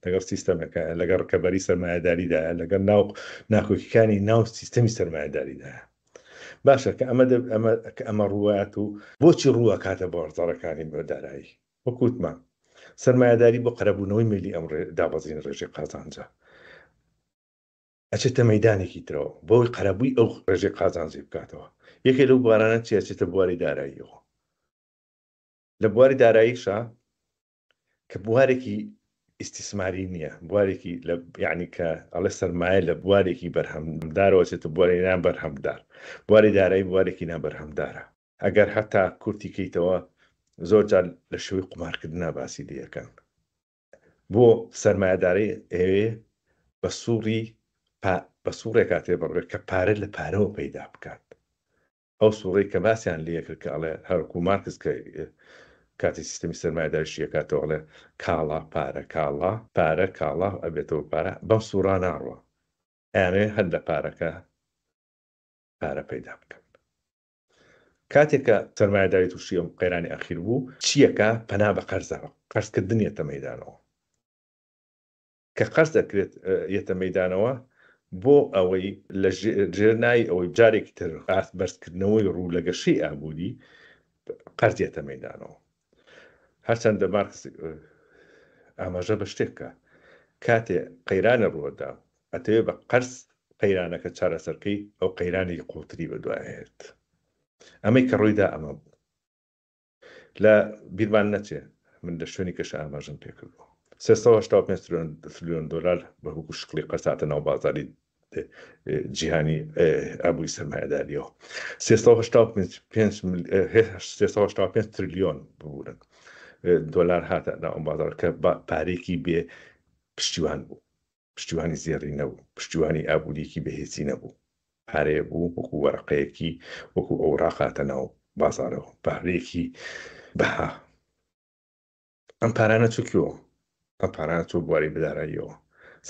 لەگەڵ سیستەمێکایە، لەگەڵ ڕکەبەری سەرمایەداریدایە، لەگەڵ ناو ناکۆکیەکانی ناو سیستەمی سەرمایەداریدایە. باشە کە ئەمە ئەمە کە ئەمە ڕوات و بۆچی ڕووە کاتە بازاڕەکانی بە دارایی وەکووتمان سەرمایەداری بۆ قەرەبوونەوەی ملی ئەم دابەزین ڕێژەی قازانجە ئەچێتە مەدانێکی ترەوە بۆی قەرەبووی ئەو ڕێژەی قازانجی بکاتەوە یەکێ لەو بارانە چیە چێتە بواری داراییەوە لە بواری داراییشا کە بوارێکی ئیستیسماری نییە بوارێکی لە یعنی کە ئەڵێ سەرمایە لە بوارێکی بەرهەمدارەوە چێتە بواری نان بەرهەمدار بواری دارایی بوارێکی نابەرهەمدارە ئەگەر هەتا کورتی کەیتەوە زۆر جار لە شوی قومارکردنا باسی دیەکەن بۆ سەرمایهدارەی ئێوێ بە سوڕی بە سوڕێکاتێ بڕێت کە پارە لە پارەوە پەیدا بکات ئەو سوڕەی کە باسیان لێ کرد کە ئەڵێ هەر وەکوو مارکس کە کاتێ سیستەمی سەرمایەداری شی ئەکاتەوە ئەڵێ کاڵا پارە کاڵا پارە کاڵا ئەبێتەوە پارە بەم سوڕا ناڕوا ئەیانەوێ هەر لە پارەکە پارە پەیدا بکەن کاتێک کە سەرمایەداری تووشی ئەم قەیرانی ئەخیر بوو چییەکە پەنا بە قەرزەوە قەرزکردنیەتە مەدانەوە کە قەرز دەکرێت یەتە مەیدانەوە بۆ ئەوەی لە ژێر نای ئەوەی جارێکی تر ئاست بەرزکردنەوەی ڕوو لە گەشەی ئابووری قەرزێتە مەدانەوە هەرچەندە مارکس ئاماژە بە شتێکە کاتێ قەیرانە ڕووەدا ئەتەوێ بە قەرز قەیرانەکە چارەسەرکەی ئەو قەیرانی قوڵتری بەدوایێت ئەمەی کە ڕوویدا ئەمە بوو لە بیرمان نەچێ من لە شوێنی کەش ئاماژەم پێکردوە 385 تریلیۆن دلار بە هوکو شکلی قەساتە ناو بازاری جیهانی ئابووری سەرمایهداریەوە 385 تریلیۆن ببوورن دۆلار هاتە ناو ئەم بازار کە پارێکی بێ پشتیوان بوو پشتیوانی زێڕی نەبوو، پشتیوانی ئابوورییەکی بەهێزی نەبوو، پارەیە بوو وەکو وەرەقەیەکی وەکو ئەوراق هاتە ناو بازاڕەوە، پارەیەکی بەها. ئەم پارانە چوو کوێوە؟ ئەم پارانە چوو بواری بداراییەوە.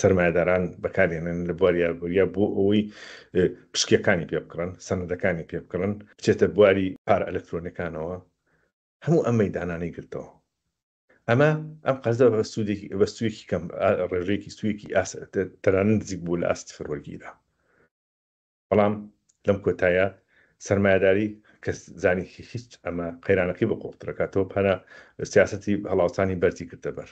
سەرمایەداران بەکارێنن لە بواری ئابووریە بۆ ئەوەی پشکیەکانی پێ بکڕن، سەنەدەکانی پێ بکڕن، بچێتە بواری پارە ئەلەکترۆنیەکانەوە، هەموو ئەم مەیدانانەی گرتەوە. ئەمە ئەم قەرزە بە سوودێکی بە سوویەکی کەم ڕێژەیەکی سوویەکی ئاس تەرانە نزیک بوو لە ئاستی سفر وەرگیرا بەڵام لەم کۆتایە سرمایهداری کەس زانی هیچ ئەمە قەیرانەکەی بە قۆڵترەکاتەوە پەنا سیاستی هەڵاوسانی بەرزی کردە بەر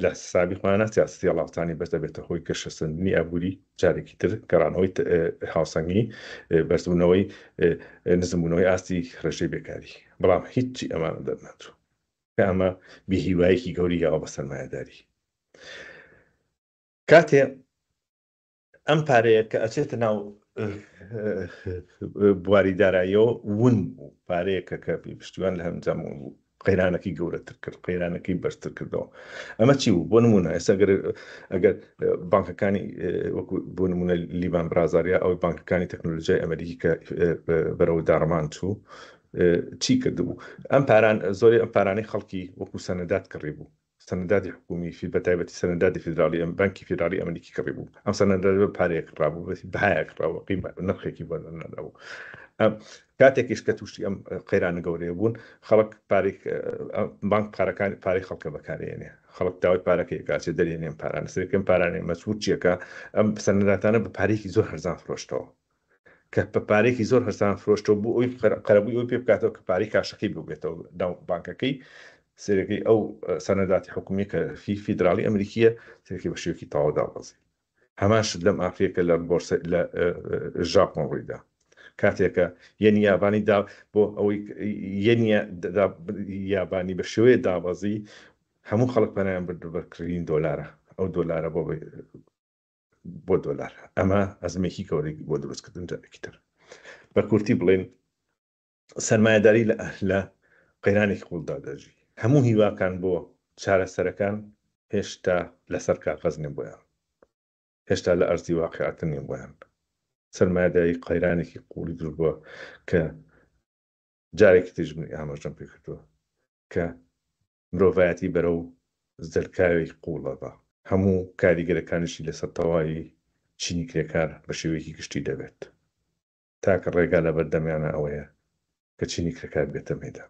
لە سابی خۆیانە سیاستی هەڵاوسانی بەرز دەبێتە هۆی گەشەسەندنی ئابووری جارێکی تر گەڕانەوەی ت- ئه، هاوسەنگی ئه، بەرزبوونەوەی ئه، نزمبوونەوەی ئاستی ڕێژەی بێکاری بەڵام هیچی ئەمانە دەرنەچوو کە ئەمە بێ هیوایەکی گەوری یاوە بە سەرمایەداری کاتێ ئەم پارەیە کە ئەچێتە ناو بواری دارایەوە ون بوو پارەیەکە کە پشتیوان لە هەمجام بوو قەیرانەکەی گەورەتر کرد قەیرانەکەی بەرتر کردەوە ئەمە چی بوو بۆ نمونە ئێستا گەر ئەگەر بانکەکانی وەکو بۆ نمونە لیبان برازاریا ئەو بانکەکانی تەکنۆلژای ئەمریکی کە بەرەوە داڕمان چوو چی کردبوو ئەم پاران زۆری ئەم پارانەی خەڵکی وەکو سەنەدات کڕی بوو سەنەداتی حکومی فی بەتایبەتی سەنەداتی فیدراڵی ئەم بانکی فیدراڵی ئەمریکی کڕی بوو ئەم سەنەدات بە پارەیەک ڕابوو بەسی بەهایەک ڕاوە قیمە نرخێکی بۆ نەدابوو ئەم کاتێکیش کە توشتی ئەم قەیرانە گەورەیە بوون خەڵک پارێک بانک پارەکان پارەی خەڵکە بەکارێنێ خەڵک داوای پارەکەی کاچێ دەرێنێن پارانە سەرکەم پارانێ مەسوود چیەکە ئەم سەنەداتانە بە پارێکی زۆر هەرزان فرۆشتەوە کە بە پارەیەکی زۆر هەرزان فرۆشتەوە بۆ ئەوی قەرەبووی ئەوەی پێ بکاتەوە کە پارەی کاشەکەی ببێتەوە ناو بانکەکەی سێرەکەی ئەو سەنەداتی حکومی کە فی فیدراڵی ئەمریکیە سێرەکەی بە شێوکی تەواو دابەزی هەمان شت لەم ئافریەکە لە بۆرسە لە ژاپۆن ڕوویدا کاتێکە یەنی یابانی دا بۆ ئەوەی یەنی یابانی بە شێوەیە دابەزی هەموو خەڵک پەنایان بردو بەرکردین دۆلارە ئەو دۆلارە بۆ بۆ دۆلار ئەمە ئەزمێکی گەورەی بۆ دروستکردن جارێکی تر بە کورتی بڵێن سەرمایەداری لە ئەهلە قەیرانێکی قوڵدا دەژی هەموو هیواکان بۆ چارەسەرەکان هێشتا لەسەر کاغەز نێ بۆیان هێشتا لە ئەرزی واقعتن نێ بۆیان سەرمایەداری قەیرانێکی قوڵی دروست بووە کە جارێکی تیژ ئاماژەم پێ کردووە کە مرۆڤایەتی بەرەو زەلکاوێک قووڵەبا، هەموو کاریگەرەکانیشی لەسەر تەواوی چینی کرێکار بە شێوەیەکی گشتی دەبێت. تاکە ڕێگا لەبەردەمیانە ئەوەیە کە چینی کرێکار بێتە مەیدان.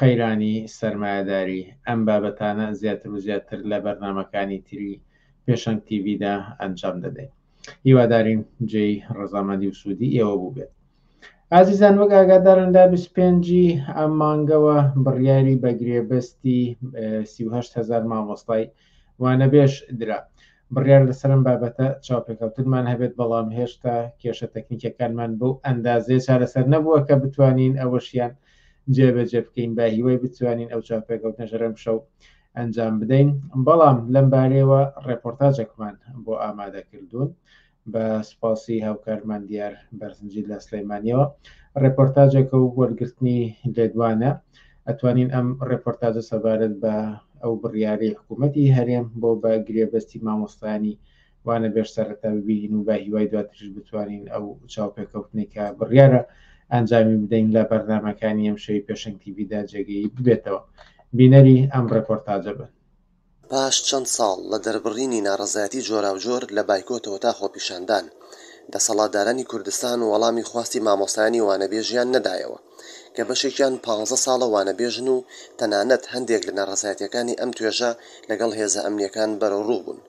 قەیرانی سەرمایەداری، ئەم بابەتانە زیاتر و زیاتر لە بەرنامەکانی تری پێشەنگ تیڤیدا ئەنجام دەدەین. هیوادارین جێی ڕەزامەندی و سوودی ئێوە بووبێت. ئازیزان وەک ئاگادارن لە 25 ئەم مانگەوە بڕیاری بە گرێبەستی 38 هزار مامۆستای وانەبێژ درا. بڕیار لەسەر ئەم بابەتە چاوپێکەوتنمان هەبێت بەڵام هێشتا کێشە تەکنیکەکانمان بەو ئەندازەیە چارەسەر نەبووە کە بتوانین ئەوەشیان جێبەجێ بکەین بە هیوای بتوانین ئەو چاوپێکەوتنەژە لەم شەو ئەنجام بدەین بەڵام لەم بارەیەوە ڕێپۆرتاجێکمان بۆ ئامادە کردوون بە سپاسی هاوکارمان دیار بەرزنجی لە سلەیمانیەوە ڕێپۆرتاجێکە و وەرگرتنی لێدوانە ئەتوانین ئەم ڕێپۆرتاجە سەبارەت بە ئەو بڕیارەی حکوومەتتی هەرێم بۆ بە گرێبەستی مامۆستانی وانە بێژ سەرەتا ببینین و بە هیوای دواتریش بتوانین ئەو چاوپێکەوتنی کە بڕیارە ئەنجامی بدەین لە بەرنمەکانی ئەم شەوی پێشنگ تیویدا جێگەی ببێتەوە بینەری ئەم ڕێپۆرتاجە بن. پاش چەند ساڵ لە دەربڕینی ناڕەزایەتی جۆراوجۆر لە بایکۆتەوە تا خۆپیشاندان، دەسەڵاتدارانی کوردستان وەڵامی خواستی مامۆستایانی وانەبێژیان نەدایەوە. کە بەشێکیان پانزە ساڵە وانەبێژن و تەنانەت هەندێک لە ناڕەزایەتییەکانی ئەم توێژە لەگەڵ هێزە ئەمنییەکان بەرەوڕوو بوون.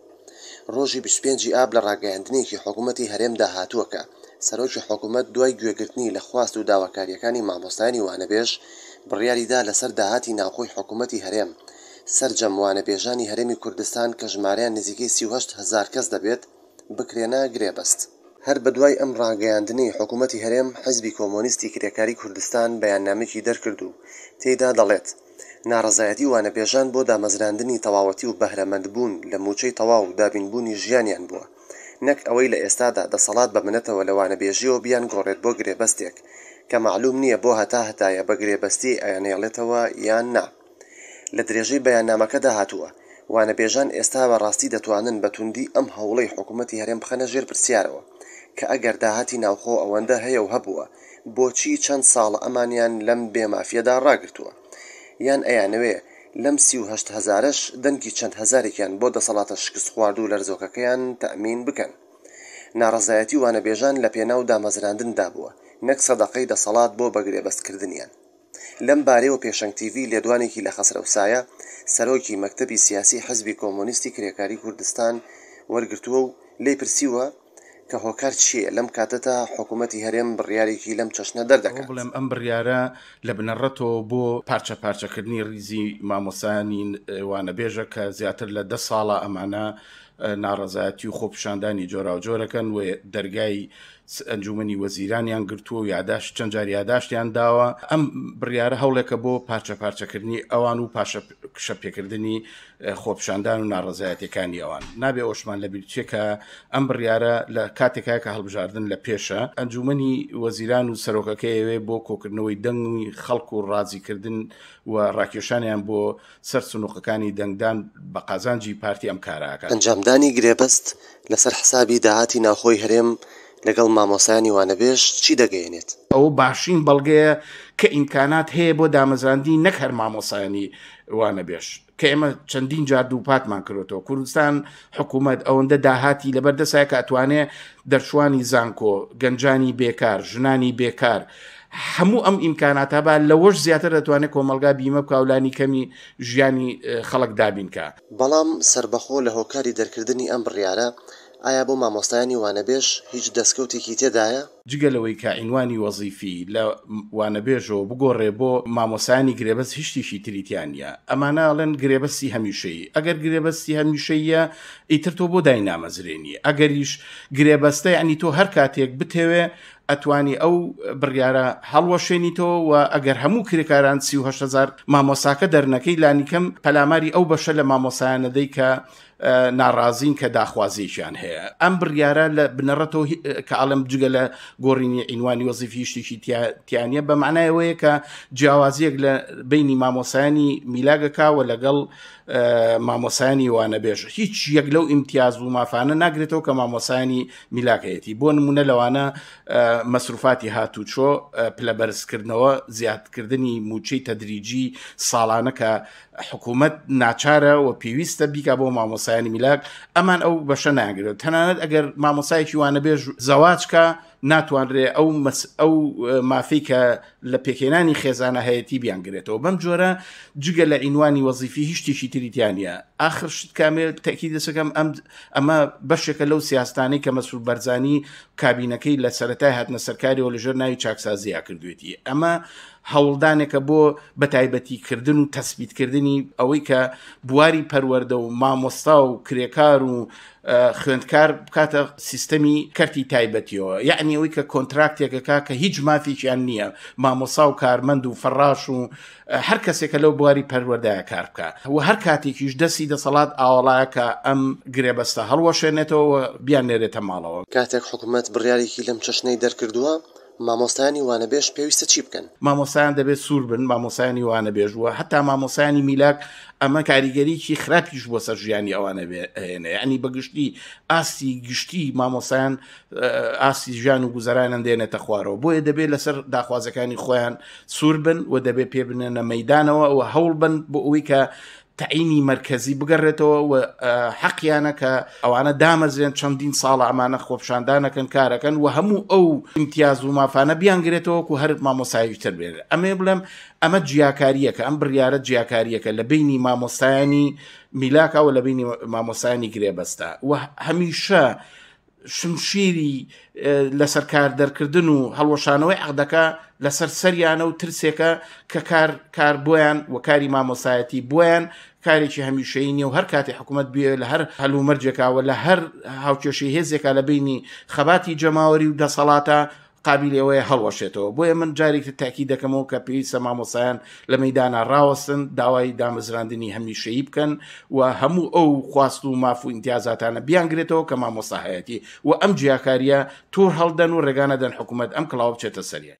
ڕۆژی بیست و پێنج ی ئاب لە ڕاگەیاندنێکی حکوومەتی هەرێمدا هاتووە کە سەرۆکی حکوومەت دوای گوێگرتنی لە خواست و داواکارییەکانی مامۆستایانی وانەبێژ بڕیاری دا لەسەر داهاتی ناوخۆی حکوومەتی هەرێم سەرجەم وانەبێژانی هەرێمی کوردستان کە ژمارەیان نزیکەی سی و هەشت هەزار کەس دەبێت بکرێنە گرێبەست. هەر بەدوای ئەم ڕاگەیاندنەی حکوومەتی هەرێم، حیزبی کۆمۆنیستی کرێکاری کوردستان بەیاننامەیەکی دەرکرد و تێیدا دەڵێت، ناڕەزایەتی وانەبێژان بۆ دامەزراندنی تەواوەتی و بەهرەمەندبوون لە مووچەی تەواو و دابینبوونی ژیانیان بووە، نەک ئەوەی لە ئێستادا دەسەڵات بە منەتەوە لە وانەبێژییەوە بیانگۆڕێت بۆ گرێبەستێک کە مەعلووم نییە بۆ هەتا هەتایە بە گرێبەستی ئەیانهێڵێتەوە یان نا. لە درێژەی بەیاننامەکەدا هاتووە، وانەبێژان ئێستا بە ڕاستی دەتوانن بە توندی ئەم هەوڵەی حکوومەتی هەرێم بخەنە ژێر پرسیارەوە، کە ئەگەر داهاتی ناوخۆ ئەوەندە هەیە و هەبووە، بۆچی چەند ساڵە ئەمانیان لەم بێ مافیەدا ڕاگرتووە؟ یان ئەیانەوێ لەم سی و هەشت هەزارەش دەنگی چەند هەزارێکیان بۆ دەسەڵاتە شکستخواردو لەرزۆکەکەیان تەئمین بکەن؟ ناڕەزایەتی وانەبێژان لە پێناو دامەزراندندا بووە، نەک سەدەقەی دەسەڵات بۆ بەگرێبەستکردنیان. لەم بارەیەوە پێشەنگ تیڤی لێدوانێکی لە خەسرەو سایە، سەرۆکی مەکتەبی سیاسیی حیزبی کۆمۆنیستی کرێکاریی کوردستان وەرگرتووە و لێی پرسیوە کە هۆکار چییە لەم کاتەدا حکوومەتی هەرێم بڕیارێکی لەم چەشنە دەردەکات؟ بڵێم ئەم بڕیارە لە بنەڕەتەوە بۆ پارچە پارچەکردنی ڕیزی مامۆستایانی وانەبێژە کە زیاتر لە دە ساڵە ئەمانە ناڕەزایەتی و خۆپیشاندانی جۆراوجۆرەکەن و دەرگای ئەنجومنی وەزیرانیان گرتووە و یاداشت چەند جار یاداشتیان داوە ئەم بڕیارە هەوڵێکە بۆ پارچە پارچەکردنی ئەوان و پاشە کشە پێکردنی خۆپشاندان و ناڕزایەتەکانی ئەوان نابێ ئۆشمان لە بیرچێکە ئەم بڕیارە لە کاتێکا کە هەڵبژاردن لە پێشە ئەنجومنی وەزیران و سەرۆکەکەیەوێ بۆ کۆکردنەوەی دەنگی خەڵک و ڕازیکردن و ڕاکێشانیان بۆ سەر سنوقەکانی دەنگدان بە قازانجی پارتی ئەم کارە ئەکات. ئەنجامدانی گرێبەست لەسەر حسابی داهاتی ناوخۆی هەرێم لەگەڵ مامۆستایانی وانەبێژ چی دەگەیەنێت؟ ئەوە باشترین بەڵگەیە کە ئیمکانات هەیە بۆ دامەزراندنی نەک هەر مامۆستایانی وانەبێژ کە ئێمە چەندین جار دووپاتمان کردوەوە کوردستان حکوومەت ئەوەندە داهاتی لەبەردەسای کە ئەتوانێ دەرچوانی زانکۆ گەنجانی بێکار ژنانی بێکار هەموو ئەم ئیمکاناتە با لەوەش زیاتر دەتوانێت کۆمەلگا بیمە بکا و لانی کەمی ژیانی خەڵک دابین کا. بەڵام سەربەخۆ لە هۆکاری دەرکردنی ئەم بڕیارە، ئایا بۆ مامۆستایانی وانەبێژ هیچ دەستکەوتێکی تێدایە؟ جگە لەوەی کە عینوانی وەزیفی لە وانەبێژەوە بگۆڕێ بۆ مامۆستایانی گرێبەست هیچ شتێکی تری تیا نیە. ئەمانە ئەڵێن گرێبەستی هەمیشەیی. ئەگەر گرێبەستی هەمیشەییە ئیتر تۆ بۆ داینامەزرێنی؟ ئەگەریش گرێبەستە یانی تۆ هەر کاتێک بتەوێ ئەتوانی ئەو بڕیارە هەڵوەشێنیتەوە و ئەگەر هەموو کرێکاران سیهزار مامۆساکە دەرنەکەی لانیکەم پەلاماری ئەو بەشە لە مامۆسایانەدەی کە ناڕازین کە داخوازیشیان هەیە ئەم بڕیارە لە بنەڕەتەوە کە ئاڵم جگە لە گۆڕینی ئینوانی وەزیفی شتێکی تیانە بە معنایەوەیە کە جیاوازیەک لە بینی مامۆسایانی میلاگەکەوە لەگەڵ مامۆسایانی وانەبێژ هیچ یەک لەو ئیمتیاز و مافانە ناگرێتەوە کە مامۆسایانی میلاکەیەتی بۆ نمونە لەوانە مەسروفاتی هاتوچۆ پلە بەرزکردنەوە زیادکردنی موچەی تەدریجی ساڵانە کە حکوومەت ناچارە و پێویستە بیکا بۆ مامۆسایانی میلاک ئەمان ئەو بەشە ناگرێت تەنانەت ئەگەر مامۆسایەکی وانەبێژ زەواجکە ناتوانرێ ئەو ئەو مافی کە لە پێکهێنانی خێزانە هەیەتی بیانگرێتەوە بەم جۆرە جگە لە عینوانی وەزیفی هیچ شتێکی تریتیانە ئاخر شت کامێ تاکی دەسەکەم ئەم ئەمە بەشێکە لەو سیاستانی کە مەسول بەرزانی کابینەکەی لە سەتای هاتنە سەرکاریەوە لەژێر ناوی چاکسازییا کردوێتی ئەمە هەوڵدانێکە بۆ بەتایبەتیکردن و تەسبیتکردنی ئەوەی کە بواری پەروەەردە و مامۆستا و کرێکار و خوێندکار بکاتە سیستەمی کەرتی تایبەتیەوە یعنی ئەوی کە کۆنتراکتێکەکە کە هیچ مافیشیان نییە مامۆسا و کارمەند و فەڕاش و هەر کەسێکە لەو بواری پەروەدای کار بکە و هەر کاتێکیش دەستی دەسەڵات ئاوەڵایەکە ئەم گرێبەستە هەڵوەشێنێتەوە بیان نێرێتە ماڵەوە کاتێک حکوومەت بڕیارێکی لەم چەشنەی دەرکردووە مامۆستایانی وانەبێژ پێویستە چی بکەن؟ مامۆستایان دەبێت سوور بن، مامۆستایانی وانەبێژ و هەتا مامۆستایانی میلاک، ئەمە کاریگەریی خراپیش بۆ سەر ژیانی ئەوان ئەهێنێ، یانی بە گشتی ئاستی گشتی مامۆستایان ئاستی ژیان و گوزەرانیان دێنێتە خوارەوە، بۆیە دەبێت لەسەر داخوازەکانی خۆیان سوور بن و دەبێت پێ بنێنە مەیدانەوە و هەوڵ بن بۆ ئەوەی کە تەعینی مەرکەزی بگەڕێتەوە و حەقیانە کە ئەوانە دامەزرێن چەندین ساڵە ئەمانە خۆپشاندانەکەن کارەکەن و هەموو ئەو امتیاز و مافانە بیانگرێتەوەکو هەر مامۆساییتر بێت ئەمێ بڵێم ئەمە جیاکاریەکە ئەم بڕیاە جیاکاریەکە لە بینی مامۆستایانی میلاکەوە لە بینی مامۆسانی گرێبەستە و هەمیشە شمشیری لەسەر کار دەرکردن و هەڵوەشانەوەی عقدەکە لەسەر سەریانە و ترسێکە کە کار کار بۆیان و کاری مامۆسایەتی بۆیان کارێکی هەمیشەی نیە و هەر کاتی حکوومەت بێ لە هەر هەلومەرجێکاوە لە هەر هاوکێشی هێزێکا لە بینی خەباتی جەماوەری و دەسەڵاتە قابیلی ئەوەیە هەڵوەشێتەوە، بۆیە من جارێکی تر تاکید دەکەمەوە کە پێویستە مامۆستایان لە مەیدانا ڕاوەستن، داوای دامەزراندنی هەمیشەیی بکەن و هەموو ئەو خواست و ماف و ئیمتیازاتانە بیانگرێتەوە کە مامۆستا هەیەتی و ئەم جیاکارییە توڕ هەڵدەن و ڕێگا نەدەن حکوومەت ئەم کڵاوە بچێتە سەریان.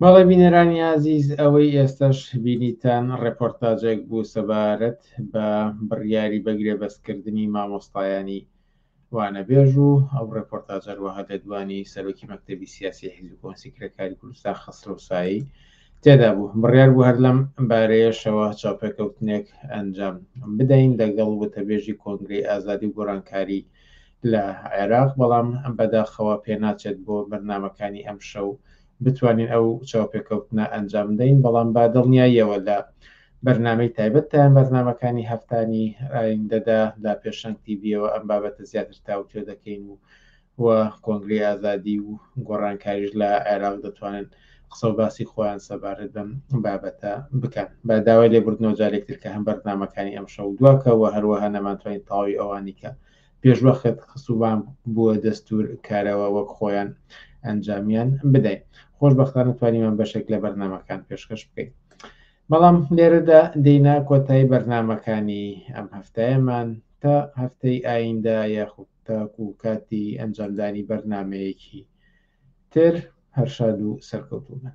بەڵێ بینەرانی ئازیز ئەوەی ئێستاش بینیتان ڕێپۆرتاجێک بوو سەبارەت بە بڕیاری بەگرێ بەستکردنی مامۆستایانی وانەبێژ و ئەو ڕێپۆرتاجەر وەها دەدوانی سەرۆکی مەکتتەبی سیاسی حیزب کۆنسی کرێکاری کوردستان خەسرۆسایی تێدا بوو بڕیار بوو هەر لەم بارەیەشەوە چاپێکەوتنێک ئەنجام بدەین دەگەڵ وتەبێژی کۆنگری ئازادی و گۆرانکاری لە عێراق، بەڵام بەداخەوە پێناچێت بۆ بەرنامەکانی ئەمشەو بتوانین ئەو چاوپێکەوتنە ئەنجامبدەین، بەڵام بە دڵنیاییەوە لە بەرنامەی تایبەت تا یان بەرنامەکانی هەفتانی ئایندەدا لە پێشەنگ تیڤییەوە ئەم بابەتە زیاتر تاوتوێ دەکەین و و کۆنگرەی ئازادی و گۆڕانکاریش لە عێراق دەتوانن قسە و باسی خۆیان سەبارەت بەم بابەتە بکەن بە داوای لێبوردنەوە جارێکتر کە هەم بەرنامەکانی ئەمشەو دواکەوە هەروەها نەمانتوانین تەواوی ئەوانی کە پێشوەخت خسووان بووە دەستوور کارەوە وەک خۆیان ئەنجامیان بدەین خۆشببختانە توانیمان بەشێک لە بەرنمەکان پێشکەش بکەین بەڵام لێرەدا دەینا کۆتایی بەرنمەکانی ئەم هەفتایەمان تا هەفتەی ئایندە یاخود تاکو کاتی ئەنجامدانی بەرنمەیەکی تر هەرشاد و سەرکەوتوبن